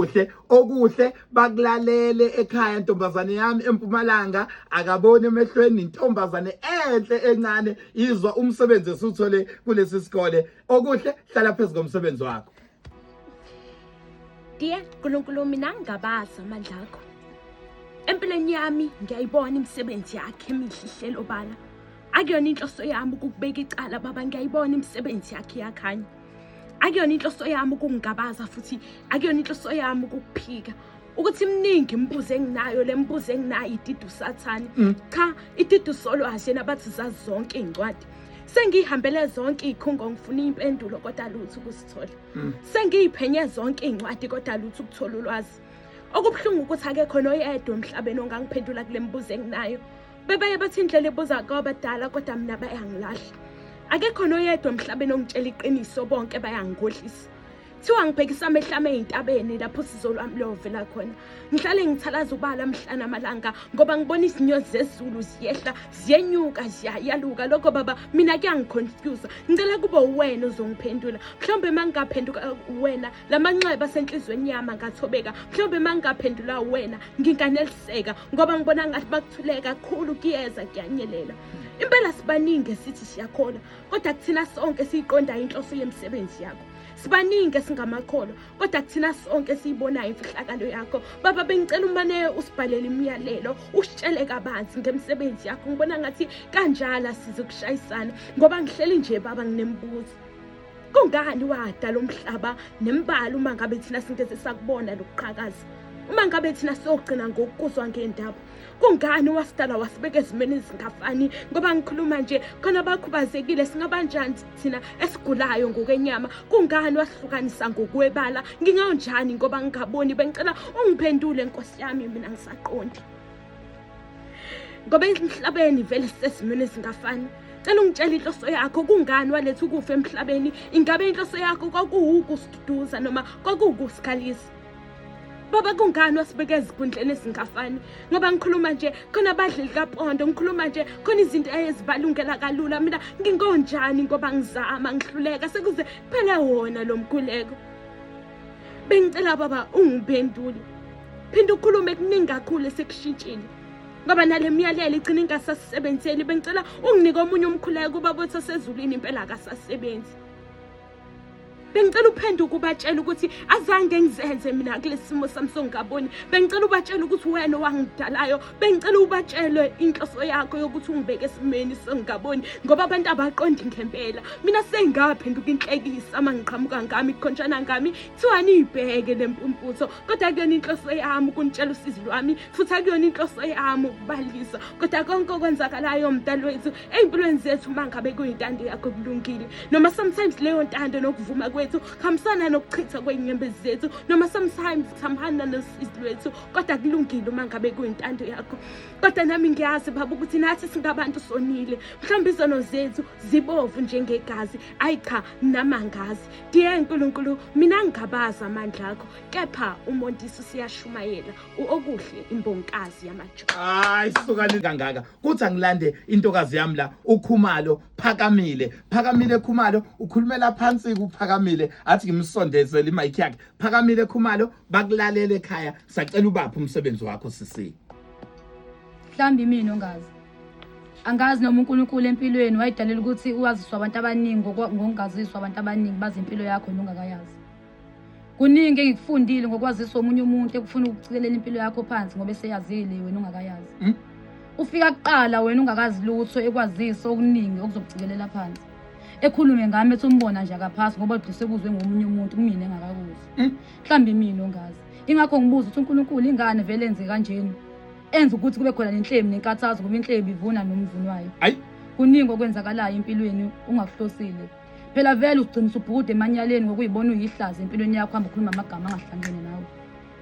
kuhle okuhle bakulalele ekhaya ntombazane yami empumalanga akaboni emehlweni intombazane enhle encane izwa umsebenzi esuthole kulesi sikole okuhle hlala phezu komsebenzi wakho Diye Nkulunkulu mina ngingabazi amandla akho Empilweni yami ngiyayibona imisebenzi yakhe emihle ihlelo bala akuyona inhloso yami ukubeka icala baba ngiyayibona imisebenzi yakhe yakhanya akuyona inhloso yami ukungigabaza futhi akuyona inhloso yami ukukuphika ukuthi mningi imibuzo enginayo le mibuzo enginayo ididu sathane mm. cha ididu solo ashena abathi zazi zonke iy'ncwadi sengiyihambele zonke iy'khungo ngifuna iy'mpendulo kodwa lutho ukusithola mm. sengiyiphenye zonke iy'ncwadi kodwa lutho ukuthola ulwazi okubuhlungu ukuthi akekho noyedwa emhlabeni ongangiphendula kule mibuzo enginayo bebaye bathi indlela ebuza kwabadala kodwa mina bayangilahla akekho noyedwa emhlabeni ongitshela iqiniso bonke bayangikhohlisa kuthiwa ngibhekisa amehlo ami ey'ntabeni lapho usizo lwami luyovela khona ngihlale ngithalaza ubala mhlana amalanga ngoba ngibona izinyozi zezulu ziyehla ziyenyuka ziyayaluka lokho baba mina kuyangiconfyuza ngicela kube uwena uzongiphendula mhlawumbe uma ngingaphenduka wena la manxeba asenhliziyweni yami angathobeka mhlawumbe uma ngingaphendula wena nginganeliseka ngoba ngibona ngathi bakuthuleka kakhulu kuyeza kuyanyelela impela sibaningi esithi siyakholwa kodwa kuthina sonke siyiqondayo inhloso yemisebenzi yakho sibaningi esingamakholwa kodwa kuthina sonke esiyibonayo imfihlakalo yakho baba bengicela umane usibhalele imiyalelo usitshele kabanzi ngemisebenzi yakho ngibona ngathi kanjalo asize ukushayisana ngoba ngihleli nje baba nginemibuzo kungani wadala umhlaba nembala uma ngabe thina singeze sakubona lokuqhakaza uma ngabe thina siyogcina ngokuzwa ngendaba kungani wasidala wasibeka ezimeni ezingafani ngoba ngikhuluma nje khona bakhubazekile singabanjani thina esigulayo ngokwenyama kungani wasihlukanisa ngokwebala ngingawunjani ngoba ngingaboni bengicela ungiphendule nkosi yami mina ngisaqondi ngoba emhlabeni vele sisesimweni esingafani cela ungitshela inhloso yakho kungani waletha ukufa emhlabeni ingabe inhloso yakho kwakuwukusiduduza noma kwakuwukusikhalisa baba kungani wasibeka ezigundleni ezingafani ngoba ngikhuluma nje khona abadleli kapondo ngikhuluma nje khona izinto ezibalungela kalula mina ngingonjani ngoba ngizama ngihluleka sekuze kuphele wona lo mguleko bengicela baba ungiphendule phinde ukhulume kuningi kakhulu esekushintshile ngoba nale myalelo igcina ingasasisebenzeli bengicela unginike omunye umkhuleko kuba bothi osezulwini impela akasasebenzi bengicela uphenduke ubatshela ukuthi azange ngizenze mina kulesimo sami songaboni bengicela ubatshela ukuthi wena owangidalayo bengicela ubatshelwe inhloso yakho yokuthi ungibeke esimeni sengingaboni ngoba abantu abaqondi ngempela mina sengaphenduka inhlekisa uma ngiqhamuka ngami kukhonjana ngami kuthiwa niyibheke le mpumputho kodwa kuyona inhloso yami ukunitshela usizi lwami futhi akuyona inhloso yami ukubalisa kodwa konke okwenzakalayo mdali wethu ey'mpilweni zethu uma ngabe kuyintando yakho kulungile noma sometimes leyo ntando nokuvuma kwethu kuhambisana nokuchitha kwey'nyembezi zethu noma sometimes kuhambana nosizi lwethu kodwa kulungile uma ngabe kuyintando yakho kodwa nami ngiyazi baba ukuthi nathi singabantu sonile mhlawumbe izono zethu zibovu njengegazi ayi cha namangazi diye nkulunkulu mina ngingabazi amandla akho kepha umontisi siyashumayela uokuhle imbonkazi yamajo hayi sukani kangaka kuthi angilande intokazi yami la ukhumalo phakamile phakamile khumalo ukhulumela phansi kuphakamile athi ngimsondezele imayikhi yakhe Phakamile Khumalo bakulalele ekhaya sacela ubaphi umsebenzi wakho sisi. Mhlambi mina ongazi. Angazi noma uNkulunkulu empilweni wayidalela ukuthi uwaziswa abantu abaningi ngokungaziswa abantu abaningi bazi impilo yakho nongakayazi. Kuningi engikufundile ngokwazisa omunye umuntu ekufuna ukucikelela impilo yakho phansi ngoba eseyazile wena ungakayazi. Hmm? Ufika kuqala wena ungakazi lutho ekwazisa okuningi okuzokucikelela phansi. ekhulume ngami ethi umbona nje akaphasi ngoba ugcise ekuzwe ngomunye umuntu kumina engakakuzi Hmm? mhlawumbe imina ongazi ingakho ngibuza ukuthi unkulunkulu ingane vele enze kanjeni enza ukuthi kube khona nenhlemi nenkathazo ngoba inhlemi ivuna nomvuni wayo Ayi. kuningi okwenzakalayo empilweni ungakuhlosile phela vele ugcina usubhukude emanyaleni ngokuyibona uyihlaza empilweni yakho hamba ukhuluma amagama angahlangene nawe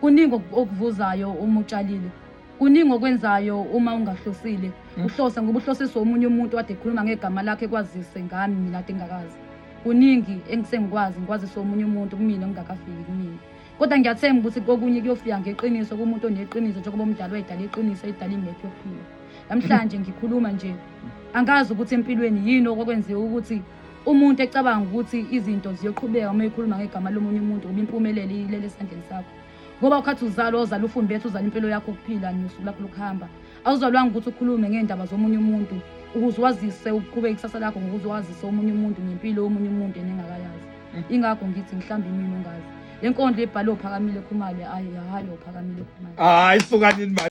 kuningi oku- okuvuzayo uma utshalile kuningi okwenzayo uma ungahlosile mm. uhlose ngoba uhlosiswe omunye umuntu wade ekhuluma ngegama lakhe kwazise ngami mina ade ngingakazi kuningi engisengikwazi ngikwazise omunye umuntu kumina ngingakafiki kumina kodwa ngiyathemba ukuthi kokunye kuyofika ngeqiniso kumuntu oneqiniso njengoba umdala wayedala iqiniso edala imephi yokuphila namhlanje ngikhuluma nje angazi ukuthi empilweni yini okwakwenziwa ukuthi umuntu ecabanga ukuthi izinto ziyoqhubeka uma ekhuluma ngegama lomunye umuntu ngoba impumelelo iyilele esandleni sakho ngoba ukhathi uzalwa uzala ufundi bethu uzala impilo yakho ukuphila nosuku lakho lokuhamba awuzalwanga ukuthi ukhulume ngey'ndaba zomunye umuntu ukuze wazise uqhube ikusasa lakho ngokuze wazise omunye umuntu ngempilo yomunye umuntu enengakayazi mm. ingakho ngithi mhlawumbe imini ongazi le nkondlo ebhale ophakamile khumale ayi hayi ophakamile khumale hayi sukanini